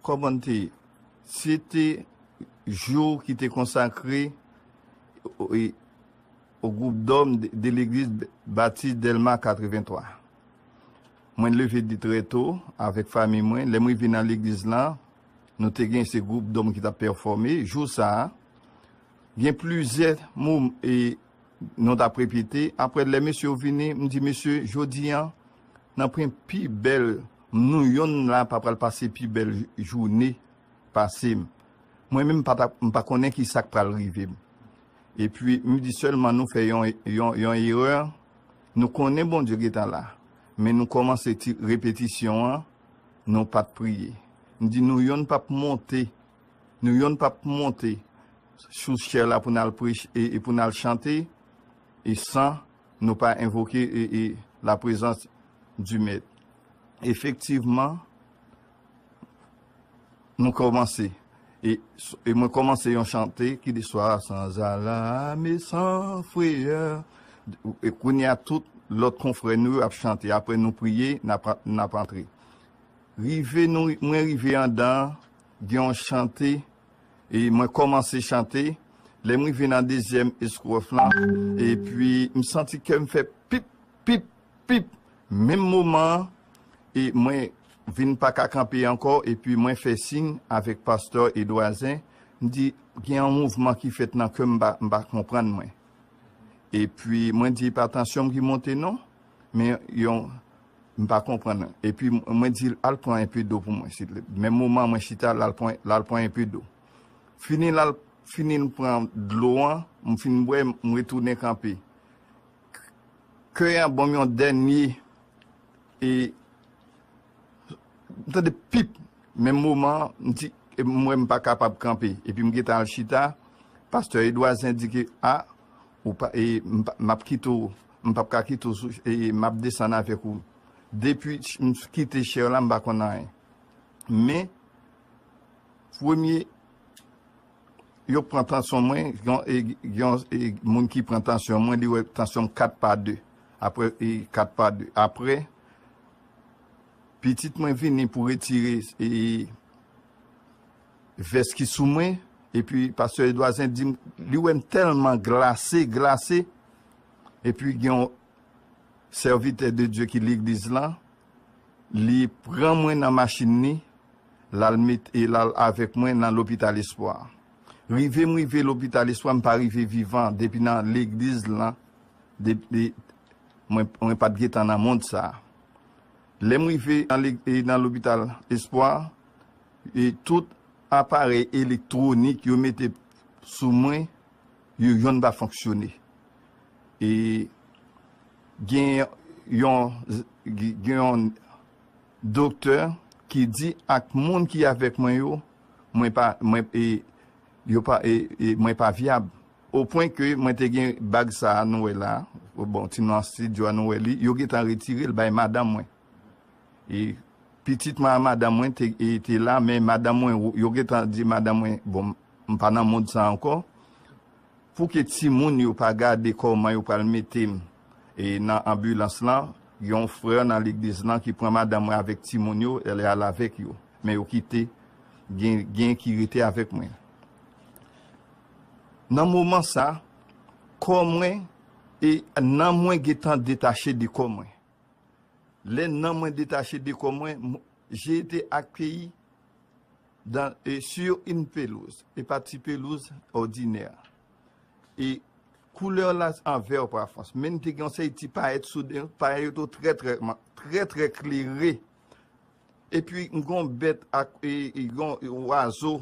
Kòmante, Se te jou ki te konsakre o gwoup dòm de legliz Batis Dèlma 83. Mwen leve trè to avèk fanmi mwen. Lè m rive nan legliz lan, nou te gen se gwoup dòm ki t ap pèfòme. Jou sa a, gen plizyè mou e nou t ap repete. Apre, lè mesye yo vini, m di mesye, jodi an, Nan pren pi bèl m nou yonn la pa pral pase pi bèl joune pase m mwen menm m pa konnen ki sak pral rive m epi m di sèlman nou fè yon yon erè nou konnen Bondye gentan la men nou kòmanse ti repetisyon an nou pat priye m di nou yonn pap monte nou yonn pap monte sou chè la pou n al preche e pou n al chante e san Nou pa envoke la prezans di mèt. Efektivman, nou kòmanse. E mwen kòmanse yon chante ki di swa san zalam e san freyè. E kounye a tout lòt konfrè nou yo ap chante. Apre nou priye, n ap antre. Rive nou, mwen rive andan, gen yon chante. E mwen kòmanse chante, lè m rive nan dezyèm estròf lan, epi m santi kè m fè pip, pip, pip, menm moman an, e mwen vin pa ka kanpe ankò, epi mwen fè siy avèk pastè Edouazen, m di, gen yon mouvman ki fèt nan kè m, m pa konprann mwen. Epi mwen di, pa tansyon m ki monte non, men yon. M pa konprann epi mwen di l al pran enpe do pou mwen siltepl menm moman mwen chita l al pran enpe do fini l al fini l pran dlo an m fin bwè m retounen kanpe key an ban m yon dènye e m tande pip menm moman m di m wè m pa kapab kanpe epi m gentan al chita pastè Edwa Zen di ke a. Ou pa e map kite w mpap ka kite w sou e map desann avek ou depi m kite chè la m pa konn anyen men premye yo pran tansyon mwen yon moun ki pran tansyon mwen li wè tansyon m 4 pa 2 aprè e 4 pa 2 aprè pitit mwen vini pou retire e. Vès ki sou mwen epi pastè Edouard Zen dim li wèm tèlman glase glase epi gen yon sèvitè de Dye ki legliz lan li pran mwen nan machin li lal met lal avèk mwen nan lopital espwa rive m rive lopital espwa m pa rive vivan depi nan legliz lan depi mwen pat gentan nan mond sa lèm rive nan lopital espwa e tout aparèy elektwonik yo mete sou mwen yo yonn pa fonksyone e gen yon gen yon doktè ki di ak moun ki avèk mwen yo mwen pa mwen e yo pa e mwen pa vyab o pwen ke mwen te gen bag sa nou wè la bon ti nou an stidyo a nou wè li yo gentan retirel bay madanm mwen. E pitit mwen a madanm mwen te la, men madanm mwen, yo gen tan di madanm mwen, bon, m pa nan mond sa ankò, pou ke timoun yo pa gade kòman yo pral mete m e nan anbilans lan, gen yon frè nan legliz lan ki pran madanm mwen avèk timoun yo, li al avèk yo, men yo kite, gen ki rete avèk mwen. Nan moman sa, kò mwen e nanm mwen gen tan detache de kò mwen. Lè nanm mwen detache de kò mwen, m J'ai été accueilli dans et sur une pelouse, et pas ti pelouz, ordinaire. Et couleur la en vert par France. Men te gen yon seri ti payèt sou li, payèt yo te trè trè, trè trè klere. Epi m gen yon bèt ak yon oiseau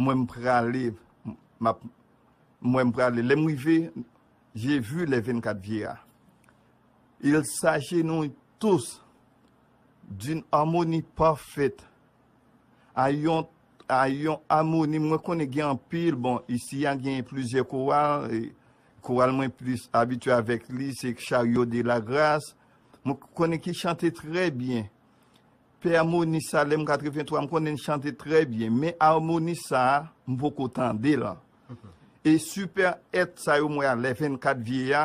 Mwen m prale m ap Mwen m prale lè m rive J'ai vu les 24 vieillards Ils s'agenouillent tous D'une harmonie parfaite A yon A yon amoni Mwen konnen gen anpil bon Isi a gen plizyè koral Koral mwen plis abitye avèk li se Chariot de la Grâce Mwen konnen ki chante trè byen Pè amoni sa lèm 83 m konnen n chante trè byen men amoni sa m poko tande l e super et sa yo m wè a lè 24 vieya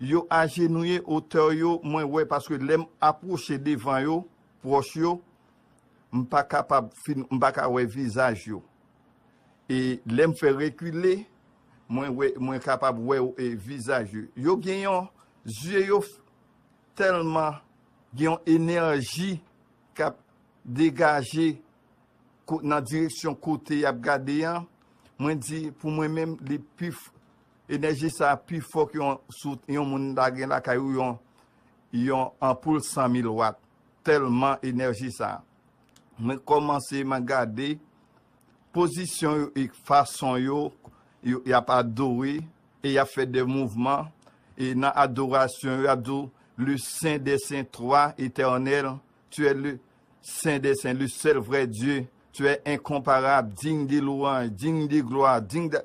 yo ajenouye otè yo mwen wè paske lèm aproche devan yo proch yo m pa kapab fin m pa ka wè vizaj yo e lèm fè rekile mwen wè mwen kapab wè vizaj yo yo gen yon zye yo tèlman Gen yon enèji k ap degaje nan direksyon kote y ap gade an. Mwen di, pou mwen menm, enèji sa a pi fò ke si yon moun ta gen lakay ou yon anpoul 100 mil wat, tèlman enèji sa a. Mwen kòmanse, mwen gade pozisyon yo e fason yo, y ap adore, E y ap fè de mouvman, e nan adorasyon yo y ap di w, Le Sen dè Sen, Toi, Etènèl, Tu è le Sen dè Sen, le sèl vrè Dye, Tu è enkonparab, digne de louanj, digne de glwa, digne d'a.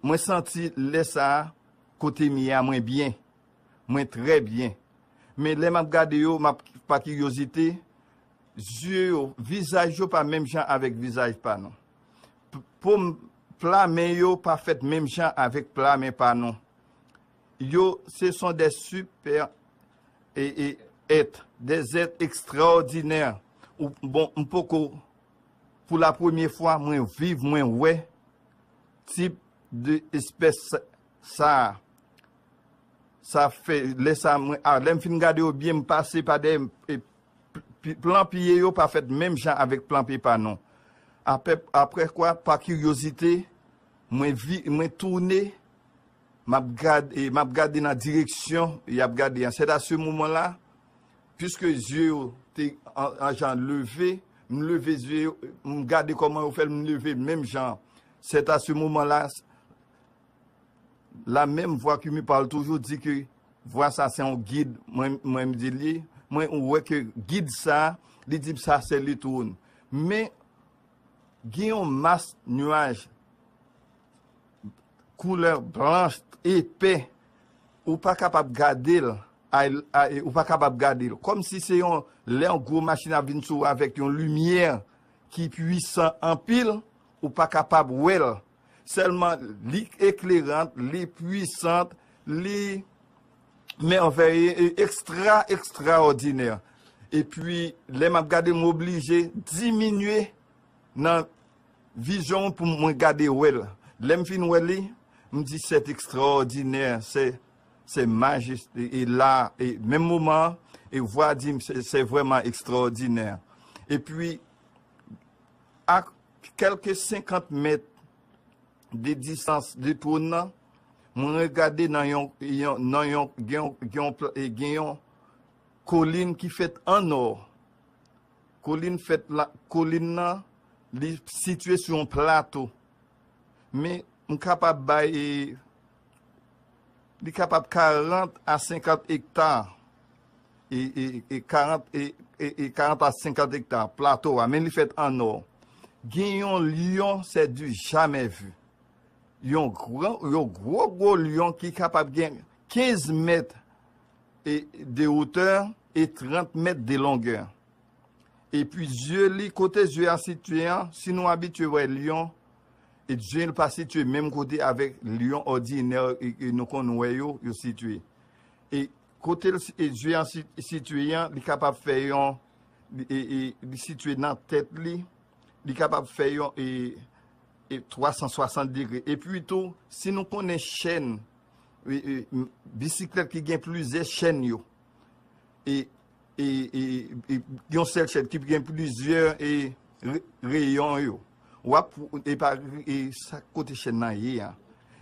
Mwen santi lè sa a, kote m ye a mwen byen. Mwen trè byen. Men lè m ap gade yo, m ap pa kiryozite, Zye yo, vizaj yo pa menm jan avèk vizaj pa nou. Pom, pla men yo pa fèt menm jan avèk pla men pa nou. Yo, se son dè sipè e e èt, dè zèt ekstraòdinè. Ou, bon, m poko, pou la premye fwa mwen viv mwen wè tip de espès sa a. Sa fè, lè sa a mwen, a lè m fin gade yo byen m pase pa dèyè m e. Plan piye yo pa fèt menm jan avèk plan pepa non. Apre kwa, pa kiryozite, mwen toune, m'ap gade nan direksyon y'ap gade an. Sèt a se moman la, piske zye yo te an jan leve, m'leve zye yo, m'gade kòman yo fèl, m'leve menm jan. Sèt a se moman la. La menm vwa ke mi pale toujou di ke vwa sa se yon gid mwen menm di li, mwen wè ke gid sa li di sa se li tou. Men gen yon mas nuaj koulè blanch epè ou pa kapab gade l, ou pa kapab gade l. Kom si se yon lè yon gwo machin ap vin sou avèk yon limyè ki pwisan anpil ou pa kapab wè l. Sèlman li eklerant, li pwisant, li mèvèye, e ekstra ekstraòdinè. Epi, lè m ap gade, m oblije diminye nan vizyon m pou mwen gade wè l. Lè m fin wè li, m di sèt ekstraòdinè, sè sè majis, e la, e menm moman an, e vwa di m sè sè vrèman ekstraòdinè. Epi, ak. Kèlke senkant mèt de distans de twòn nan, mwen regade nan yon, nan yon, gen yon, gen yon, gen yon kolin ki fèt an nò. Kolin fèt la, kolin nan li sitye sou yon plato. Men, m kapab bay Li kapab 40 a 50 ekta, e 40 a 50 ekta, plato a, men li fèt an nò. Gen yon lyon, sè di jamè vi. Yon gwo gwo lyon ki kapab gen 15 mèt de wotè, e 30 mèt de longè. E pi zye li, kote zye a sitye an, si nou abitye wè lyon, E Djel pa sitye menm kote avèk lyon òdinè ke nou konn wè yo, yo sitye. E kote Djel an sitye an, li kapab fè yon, li sitye nan tèt li, li kapab fè yon 360 degre. E pi tou, si nou konnen chèn, bisiklèt ki gen plizyè chèn yo, e. Yon sèl chèn ki gen plizyè reyon yo. Wap e pa e sa kote chèn nan ye a.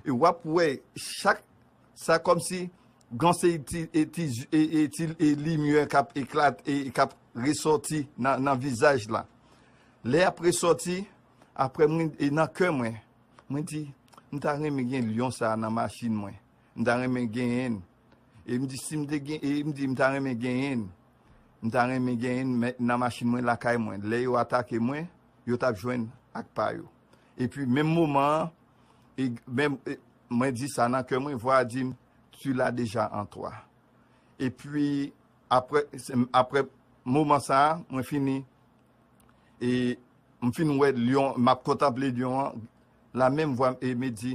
E wap wè chak sa kòm si gan se ti e ti limyè kap eklat e kap resòti nan vizaj la. Lè ap resòti aprè mwen e nan kè mwen. Mwen di m ta renmen gen lyon sa nan machin mwen. M ta renmen genyen. E m di si m te gen, e m di m ta renmen genyen, m ta renmen genyen nan machin mwen lakay mwen. Lè yo atake mwen, yo t ap jwenn ak pa yo. E pi menm moman an, e menm, e mwen di sa nan kè mwen, vwa a di m, tu la deja an twa. E pi apre, apre moman sa a, mwen fini, e m fin wè lyon, m ap kontanple lyon an, la menm vwa m e me di,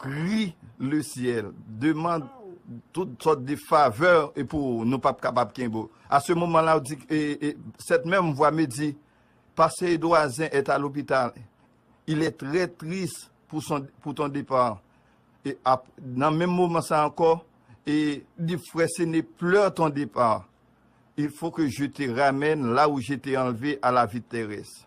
Pri le syèl demand tout sòt de favè e pou ou nou pap kapab kenbe ou. A se moman la ou di e e sèt menm vwa me di pase Edouazen et a lopital il est trè tris pou son pou ton depa e ap nan menm moman sa ankò e li fè se ne pleur ton depa il faut que je te ramène la ou je te enlevé a la vie terrestre.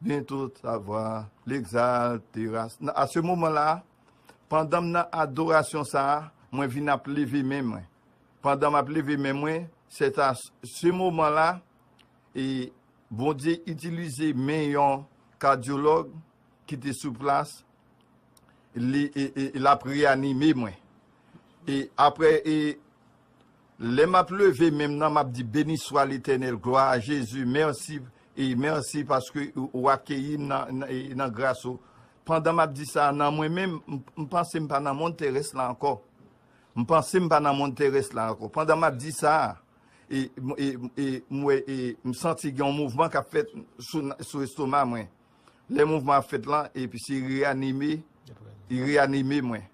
Gen tout savwa, l'exalte ras nan a se moman la a, pandan m nan adorasyon sa a, mwen vin ap leve men mwen. Pandan m ap leve men mwen, se ta se moman la, e Bondye itilize men yon kadyològ ki te sou plas, li, e, e, e l ap reanime mwen. E apre, e. Lè map leve menm nan map di beniswa letènèl glwa a jezi mèsi mèsi paske ou akeyim nan gras ou pandan map di sa nan mwen menm m panse m pa nan mond terès la ankò m panse m pa nan mond terès la ankò pandan map di sa e m wè e m santi gen yon mouvman kap fèt sou estoma mwen lè mouvman ap fèt lan epi se reanime reanime mwen.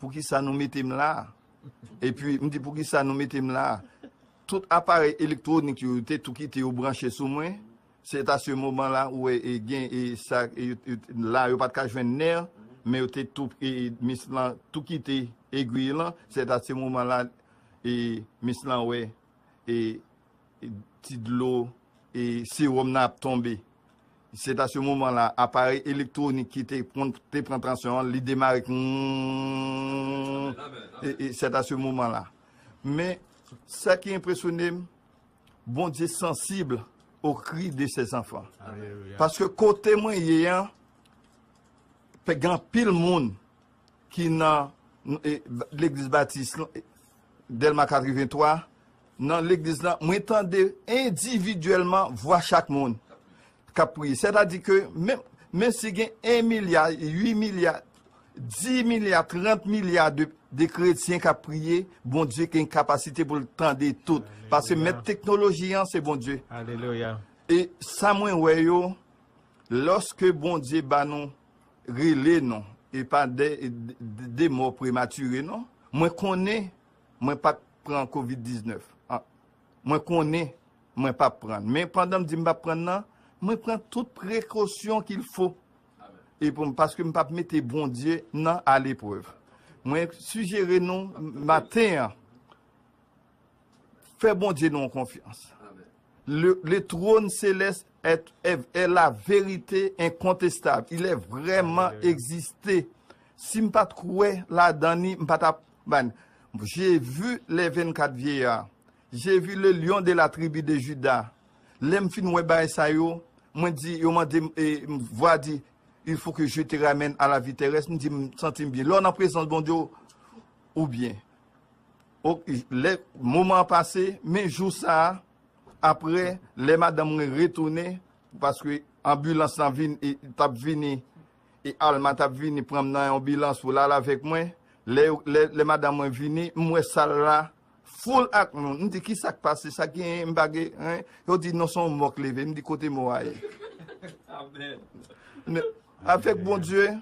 Poukisa nou mete m la a? Epi, m di, Poukisa nou mete m la a? Tout aparèy elektwonik yo, yo te tou kite yo branche sou mwen. Se ta se moman la, ou wè, gen sa, la a yo pa t ka jwenn nè, men yo te tou, mis lan tou kite egwiy lan. Se ta se moman la, mis lan wè. Ti dlo e sewòm nan ap tonbe. Se ta se moman la, aparèy elektwonik ki te konn te pran tansyon an, li demare kounnnnnnn e se ta se moman la. Men, sa ki enpresyone m, Bondye sansib o kri de se zanfan. Paske kote mwen ye an, pe gen anpil moun. ki nan legliz batis Dèlma 83, nan legliz lan, mwen tande endividyèlman vwa chak moun k ap priye. Sètadi ke menm si gen 1 milya, 8 milya, 10 milya, 30 milya de kretyen k ap priye, Bondye gen kapasite pou l tande tout. Paske mèt teknoloji an se Bondye. E sa mwen wè yo, lòske Bondye ba nou rele non e pa de mò prematire non mwen konnen mwen pat pran covid 19 an mwen konnen mwen pap prann men pandan m di m pap prann nan mwen pran tout prekosyon kil fo e pou m paske m pap mete bondye nan a leprev mwen sijere nou maten an fè bondye nou konfyans Le trône céleste est la vérité incontestable. Il est vraiment existé. Si m pa t kwè ladan li, m pa t ap ban. J'ai vu les 24 vieillards. J'ai vu le lion de la tribu de Juda. Lè m fin wè bagay sa yo, mwen di, yo mande m, e, vwa di, Il faut que je te ramène à la vie terrestre. M di, m santi m byen. Lè w nan prezans Bondye, ou byen. Ok, lè moman an pase, men jou sa a, apre, lè madanm mwen retounen, paske anbilans lan vin, e, t ap vini, e Alma t ap vini pran m nan yon anbilans pou l al avèk mwen, lè yo, lè, lè madanm mwen vini, m wè sal la foul ak moun, m di ki sa k pase, sa genyen, m pa gen, hein, yo di non se yon mò k leve, m di kote mò a ye? Amen! Avèk Bondye,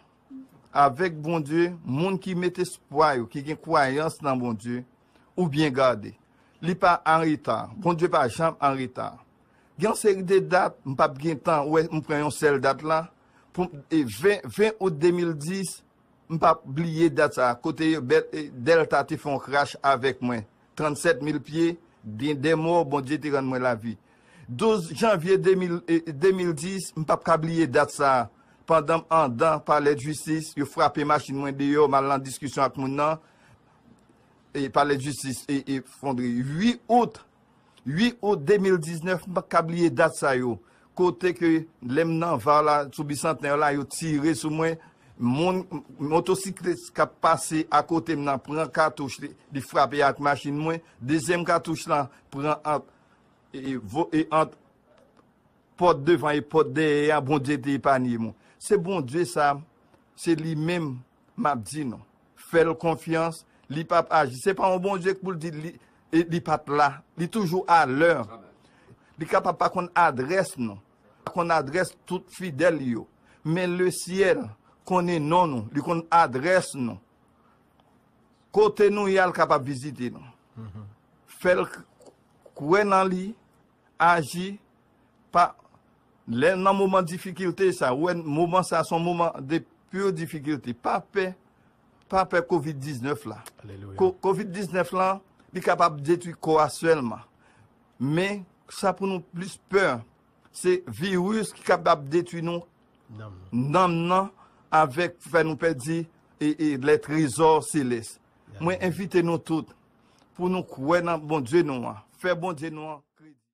Avèk Bondye, moun ki met espwa yo, ki gen kwayans nan Bondye, ou byen gade. Li pa anreta. Bondye pa janm anreta. Gen yon seri de dat, m pap gen tan wè, m pran yon sèl dat la, pou, 20, 20 out 2010, m pap bliye dat sa a, kote yo, Delta te fè yon crash avèk mwen. 37 mil pye gen 2 mò Bondye te rann mwen lavi 12 janvye 2010 m pap ka bliye dat sa pandan m andan palèdjistis yo frape machin mwen deyò m al nan diskisyon ak moun nan palèdjistis efondre 8 out 8 out 2019 m pap ka bliye dat sa yo Kote ke lè m nan var la sou bisantnè la yo tire sou mwen, moun motosiklis k ap pase akote m nan pran katouch li, li frape ak machin mwen, dezyèm katouch lan pran ant e ant pòt devan e pòt dèyè a, Bondye te epanye mwen. Se Bondye sa, se li menm. Map di nou. Fèl konfyans li pap aji se pa yon Bondye k pou l di li pat la li toujou a lè li kapab pa konn adrès nou pa konn adrès tout fidèl li yo men le syèl konnen non nou li konn adrès nou kote nou ye al kapab vizite nou fèl kwè nan li. Aji, pa, lè nan moman difikilte sa, ou wè moman sa son moman de pur difikilte, pa pè, pa pè covid 19 la. Alelouya. Covid 19 lan, li kapab detwi kò a sèlman. Men, sa pou nou plis pè, se virus ki kapab detwi nou, nanm nan, avèk fè nou pèdi lè trezò selès. Mwen envite nou tout, pou nou kwè nan Bondye nou an, fè Bondye nou an.